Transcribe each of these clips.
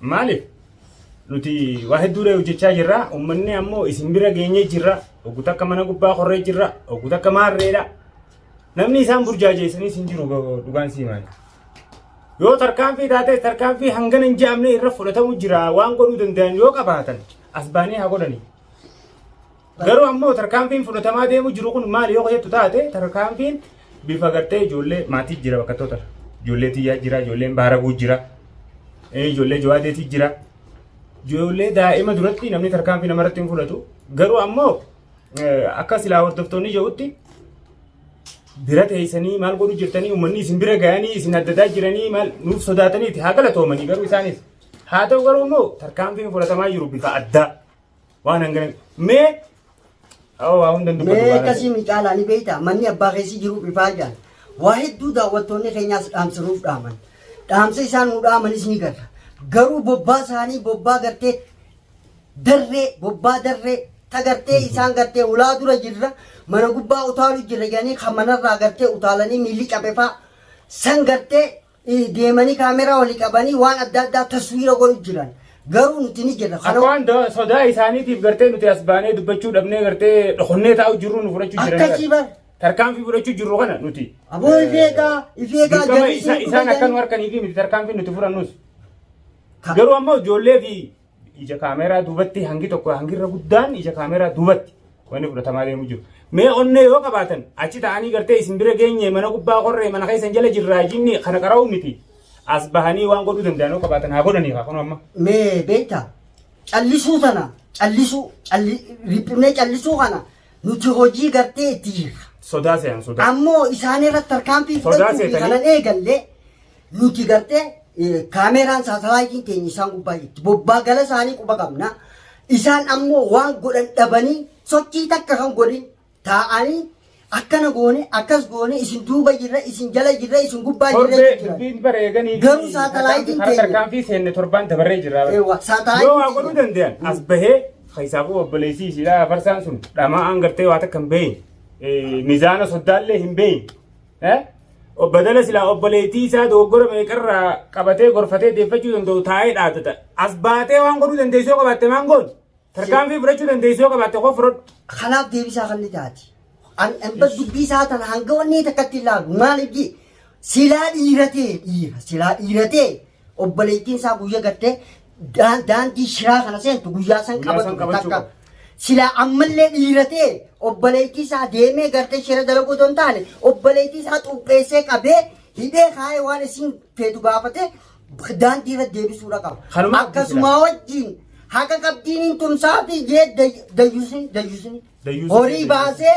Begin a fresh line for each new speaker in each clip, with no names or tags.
Maaliif? Nuti waa hedduuree hojjechaa jirra. Uummanni ammoo isin bira geenyee jirra. Oggu takka mana gubbaa korree jirra. Oggu takka maarreedha. Namni isaan burjaajeessanis hin jiru dhugaan sii maali. Yoo tarkaanfii taatee tarkaanfii hangana hin jaamne irra fudhatamu jira. Waan godhuu danda'an yoo qabaatan as baanii haa godhani. Garuu ammoo tarkaanfiin fudhatamaa deemu jiru kun maali yoo jettu taate tarkaanfiin bifa gartee ijoollee maatii jira bakka toota ijoollee tiyyaa jira ijoolleen baaraguu jira ijoollee jawaadeetii jira ijoollee daa'ima duratti namni tarkaanfii namarratti hin fudhatu garuu ammoo akka silaa hordoftoonni jedhutti bira teessanii maal godhu jirtanii uummanni isin bira ga'anii isin addadaa jiranii maal nuuf sodaataniiti haa galatoomanii garuu isaanis haa ta'u garuu immoo tarkaanfiin fudhatamaa jiru bifa addaa. Waan hangana mee Awwa waa hundan dubbatu Mee baanaa. kasii miidhaalaa ni
beektaa manni abbaa keessi jiru bifaa jaan waa hedduu daawwattoonni keenyaas dhaamsiruuf dhaaman dhaamsa isaan nu dhaamanis ni garra garuu bobbaa isaanii bobbaa gartee darree bobbaa darree ta gartee isaan gartee ulaa dura jirra mana gubbaa utaalu jirra jedhanii kan manarraa gartee utaalanii miilli caphefaa san gartee deemanii kaameraa walii qabanii waan adda addaa taswiira godhu jiran garuu nuti ni jirra. Akka waan do- sodaa
isaaniitiif gartee nuti as baanee dubbachuu dhabnee gartee dhokonnee taa'u jirru nu fudhachuu jiran. Akkasii bar. Tarkaanfii
fudhachuu jirru
kana nuti. Aboo ifeegaa
ifeegaa Dirqama jarri isa- isin isaan akka
nu dhufanii- harkanii fi miti tarkaanfii nuti fudhannus. Ka- Garuu ammoo ijoollee fi ija kaameeraa duubatti hangi tokko hangi irra guddaan ija kaameeraa duubatti wanni fudhatamaa deemu jiru. Mee onnee yoo qabaatan achi ta'anii gartee isin bira geenye mana gubbaa qorree mana keessan jala jirraa jinni kana qara'u miti. As bahanii waan godhuu danda'an yoo qabaatan haa godhanii haa kunu amma. Mee beektaa
callisuu sana callisuu calli riphinnee callisuu kana nuti hojii gartee itti jirra. Sodaa se'an sodaa.
Ammoo isaan irratti
tarkaanfii Sodaa fudhachuu fi seetanii? kanan eegallee Nuti gartee kaameeraan saatalaayitiin keenya isaan gubbaa jirti. Bobbaa gala isaanii quba qabna. Isaan ammoo waan godhan dhabanii sochii takka kan godhin taa'anii akkana goone akkas goone isin duuba jirra isin jala jirra isin gubbaa jirra Torbee jechuu jiran. dubbiin bara eeganii fi Garuu saatalaayitiin karaa keenya- tarkaanfii seenne torbaan
dabarree jira. Eewwa, Yoo waa saatalaayitiin godhuu keenya. danda'an as bahee keessaafu obboleessii ishiidhaa farsaan sun dhama'aan gartee waa takka hin beeyin. Mizaana soddaallee hin beeyin. Badala silaa obboleettii isaa dogoggora meeqarraa qabatee gorfatee deeffachuu danda'u taa'ee dhaadata. As baatee waan godhuu dandeessu yoo qabaatte maan goon? Tarkaanfii fudhachuu dandeessu yoo qabaatte koo fudhadhu. Kanaaf deebisaa kan
ni taati. An amma dubbii isaa tana hanga wanni takkatti ilaalu maal ijji silaa dhiiratee dhiira silaa dhiiratee Obboleettiin isaa guyya gattee daan- daandii shiraa kana seentu guyyaa san Guyyaa san qabatu qabachuu takka. qaba. Silaa ammallee dhiiratee obboleettii isaa deemee gartee shira dalaguu otoo hin taane obboleettii isaa xuupheessee qabee hidhee kaa'ee waan isiin feetu gaafate daandii irra deebisuudha qaba. Kanuma qabdi Akkasuma wajjin haqa qabdiin hin tumsaa fi jee dayyusin dayyusin Dayyusin horii jee dayyusin. baasee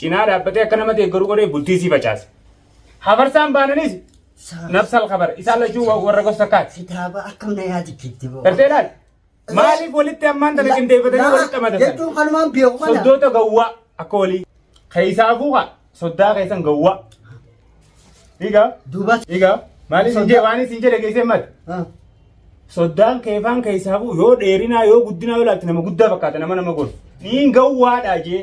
cinaa dhaabbatee akka nama deeggaru godhee bultii isii facaase. Hafarsaan baananis nafsal kabar isaan lachuu wa- warra gosa kaati. Kitaaba akkam na
yaadichitti boo. Gartee laal
maaliif walitti ammaan tana qindeeffatanii walitti amadatan? Jechuun kanumaan beeku kana.
Soddoota gawwaa
akka walii keessaafuu haa soddaa keessan gawwaa. Dhiigaa Duubas. dhiigaa maaliif hin jee waan isin jedhe keessee mati. Ah, Soddaan keefaan keessaafuu yoo dheerinaa yoo guddinaa yoo laalte nama guddaa fakkaata nama nama godhu. Niin gawwaadhaa jee.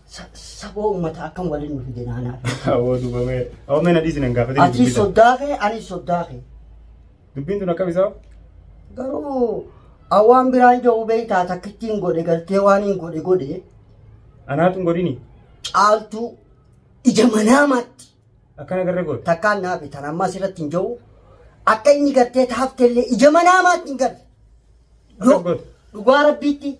Saboo
uummata akkam waliin nu fide naanaa. Awoo dubamee.
Awoo mee nadhiisi nan gaafatee Ati dubbisa. soddaa kee
ani soddaa kee. Dubbiin
tun akkam isaa? Garuu
awwaan biraan ja'u beektaa takkittiin godhe galtee waan hin godhe godhe Anaatu
hin godhini. caaltuu
ija manaamaatti Akkana garree
godhe. takkaan naa bitan amma
asirratti hin ja'u akka inni gartee taaftellee ija manaamaatti hin galle. Akkas godhe. Dhugaa rabbiitti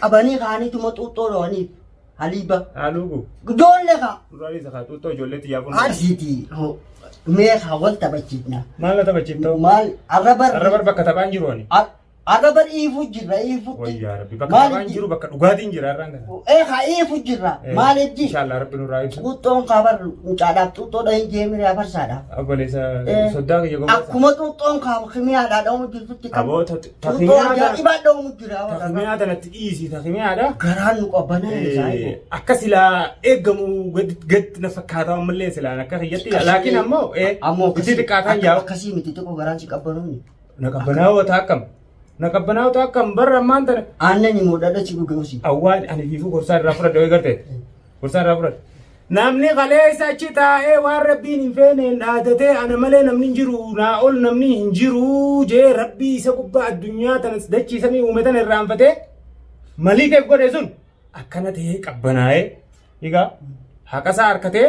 qabanii kaaniituma xuuxxoo dhawaniif haliiba Haaluugu.
ijoollee kaa
Duraanis haa xuuxxoo
ijoolleetti yaa fuudhu. haadsiitii
mee kaa wal taphachiifna Maal na taphachiifta?
maal arraba
Arra bar bakka
taphaan jiru ani. arraba dhiifuu
jirra dhiifuu Wayyaa rabbi bakka taphaan
jiru bakka dhugaatiin jira arraan kana. ee kaa dhiifuu jirra Eh,
maal ejji Inshaallah rabbi nurraa ibsu.
xuuxxoon kaa bar
mucaadhaaf xuuxxoo dhahin jeemire afarsaadhaaf Obboleessa Eh.
soddaa kiyya gogaa. akkuma xuuxxoon kaa
kimiyaadhaa dhahumu jirtutti kan Aboota Tuutoo
ajaa'ibaa
dhoomu jira. Takimiyaa tanatti dhiisi
takimiyaadha. Garaan nu qabbanaa
isaa. Akka silaa
eegamu gad na fakkaata ammallee silaa akka kiyyatti. Laakiin ammoo ammoo itti xiqqaataan yaa'u. Akkasii miti xiqqoo garaan si
qabbanoonni. Na qabbanaa wata
akkam. Na qabbanaa wata akkam barra ammaan tana. Aannan immoo dhadhachi
dhuge hosi. Awwaan ani fiifuu
gorsaa irraa fudhadhe gartee. Gorsaa irraa fudhadha. Namni kaleessa achi taa'ee waan rabbiin hin feeneen dhaadatee ana malee namni hin jiru naa ol namni hin jiru jee rabbii isa gubbaa addunyaa tanas dachii samii uume tana irraanfatee malii keef godhe sun akkana ta'ee qabbanaa'ee egaa haqasaa harkatee